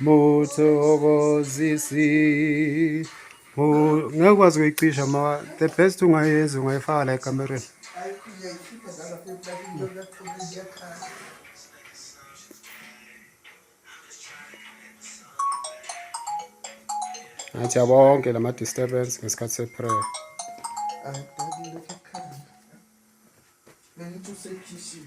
muthokozisi ngeke ukwazi kuyicisha ma the best ungayenzi ungayifaka la ekamereni ngathi abonke la ma-disturbance ngesikhathi se-prayer Beni tu seçişim.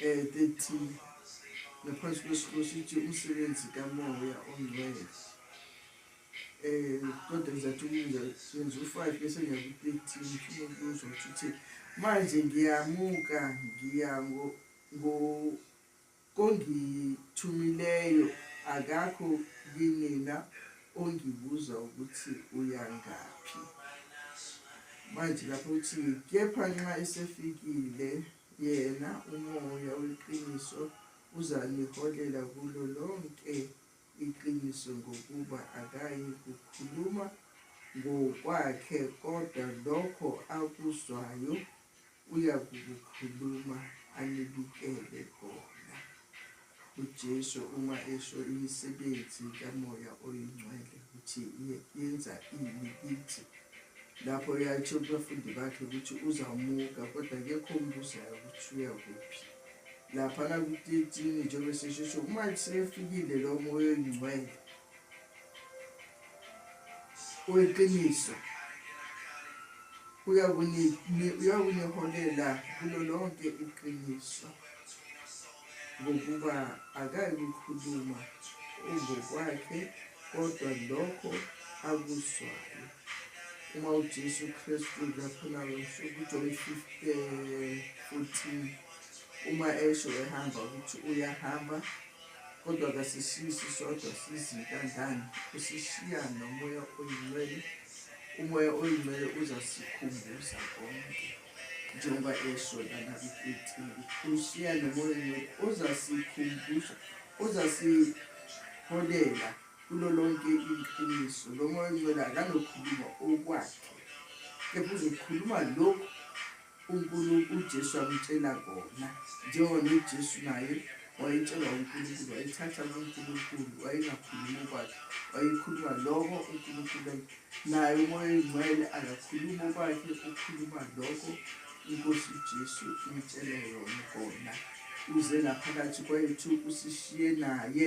Eh, 30 ngaphansi kwesihloko sithi umsebenzi kamoya ongcwele eh kodwa ngizathi ukwenza senza u-5 bese ngiya ku-13 ngifuna ukuzwa ukuthi uthe manje ngiyamuka ngiya kongithumileyo akakho kinina ongibuza ukuthi uyangaphi manje lapho uthi kepha nxa esefikile Yena uMoya weqiniso uzaniholela kulo lonke iqiniso ngokuba akayi kukhuluma ngokwakhe kodwa lokho akuzwayo uyakukukhuluma anibikele kona. UJesu uma esho imisebenzi kaMoya oyiNgcwele ukuthi yenza ini kithi, lapho yayithe kubafundi bakhe ukuthi uzawumuka kodwa kekho ombuzayo ukuthi uya kuphi. Laphana kutetini njengoba seshesho uma sefikile lo Moya oyiNgcwele weqiniso uyakuniholela kulo lonke iqiniso ngokuba akayikukhuluma ungokwakhe kodwa lokho akuzwayo uma ujesu kristu laphana nsuku john 15 uma esho ehamba ukuthi uyahamba kodwa kasishiyi sisodwa sizintandlane usishiya nomoya oyingcwele umoya oyingcwele uzasikhumbuza konke njengoba esho lana kwi-fifteen ushiya nomoya oyingcwele uzasikhumbuza uzasiholela kulo lonke iqiniso lo moya oyingcwele akanokhuluma okwakhe kepha uzokhuluma lokhu UNkulunkulu, uJesu akutshela kona, njengoba noJesu naye wayetshelwa uNkulunkulu, wayethatha kuNkulunkulu, wayengakhulumi okwakhe, wayekhuluma lokho uNkulunkulu. Naye uMoya Oyingcwele akakhulumi okwakhe, ukhuluma lokho uNkosi uJesu umtshele yona kona. Uze ngaphakathi kwethu, usishiye naye.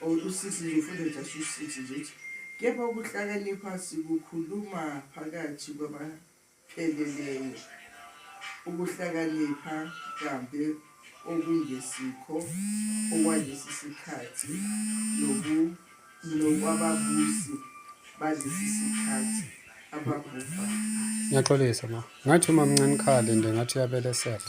or usisi nje ufuna just usisi nje ukuthi kepha ukuhlakanipha sikukhuluma phakathi kwabapheleleyo ukuhlakanipha kambe okungesikho okwalesi sikhathi nobu nokwababusi balesi sikhathi ababhubha Ngiyaxolisa ma. Ngathi uma mncane khale nje ngathi uyabelesela.